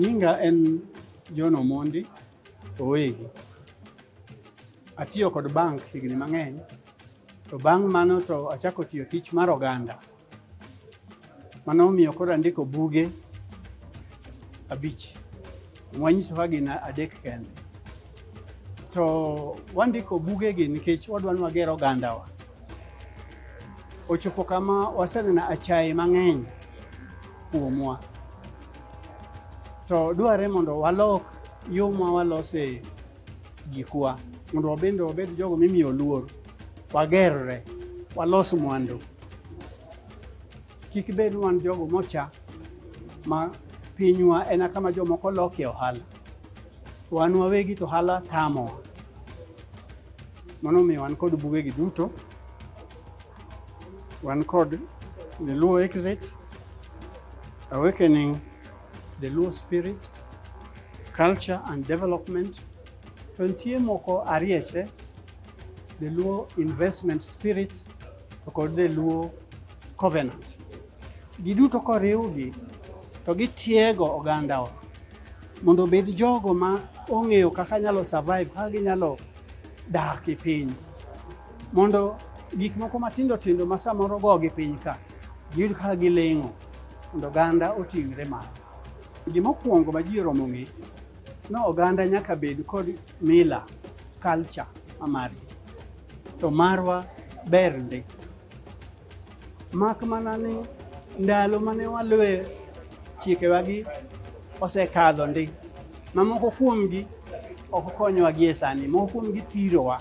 Nyinga en John Omondi Owegi. Atiyo kod bank higni mang'eny to bang' mano to achako tiyo tich mar oganda. Mano omiyo koro andiko buge abich mwanyiso ka gin adek kende to wandiko bugegi nikech wadwa ni wager ogandawa. Ochopo kama waseneno achaye mang'eny kuomwa, to dwarre mondo walok yo ma walose gikwa mondo wabende wabed jogo mimiyo luor, wagerre, walos mwandu. Kik bed wan jogo mocha ma pinywa en kama jomoko lokie ohala, wan wawegi to ohala tamowa. Mano omiyo wan kod bugegi duto, wan kod The Luo Exit, Awakening The Luo spirit, culture and development. To nitie moko arieche, the Luo investment spirit to kod the Luo covenant. Giduto koriwgi to gitiego ogandawa mondo obed jogo ma ong'eyo kaka nyalo survive, kaka ginyalo dak e piny mondo gik moko matindo tindo ma samoro go gi piny ka Gin ka giling'o mondo oganda oting're malo. Gima okuongo ma ji oromo ng'e ni oganda nyaka bed kod mila, culture ma margi. To marwa ber ndi. Mak mana ni ndalo mane waluwe chikewagi osekadho ndi. Ma moko kuomgi ok okonyowa gi e sani. Moko kuomgi thirowa.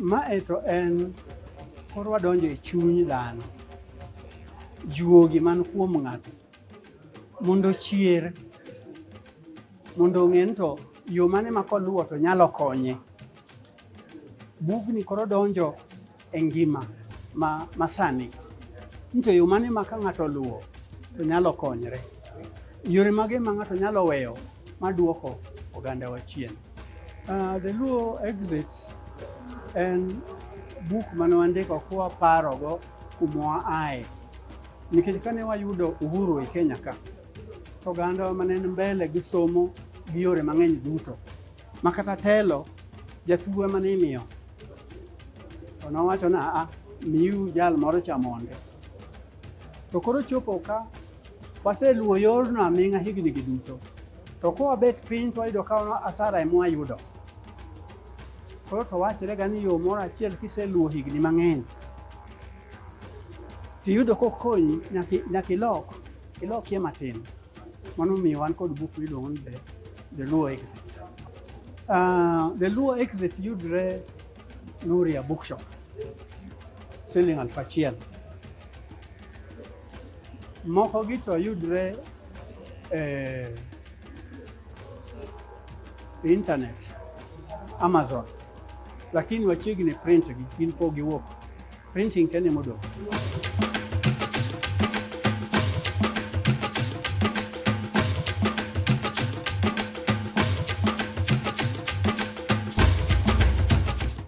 Ma e to en koro wadonjo e chuny dhano, juogi man kuom ng'ato mondo ochier, mondo ong'e ni to yo mane ma koluwo to nyalo konye. Bugni koro donjo e ngima ma, ma sani ni to yo mane ma ka ng'ato oluwo to nyalo konyre, yore mage ma ng'ato nyalo weyo ma duoko ogandawa chien. Uh, the Luo exit en buk mane wandiko kuwa parogo kuma aye nikech kane wayudo uhuru e Kenya ka to oganda mane en mbele gi somo gi yore mang'eny duto ma kata telo jathuwa mane imiyo to nowacho na a ah, miu jal moro chamonde to koro chopo ka Waseluwo yorno aming'a hignigi duto, to kwabet piny to wayudo ka asara ema wayudo. Koro to wachorega ni yo moro achiel kiseluwo higni mang'eny tiyudo kokonyi nyaka ilok ilokie matin. Mano omiyo wan kod buk miluongo ni The Luo Exit. Uh, the Luo Exit yudre Nuria Bookshop siling' aluf achiel. Mokogi to yudre e internet Amazon, lakini wachiegni print gi gin po giwuok printing kene modong'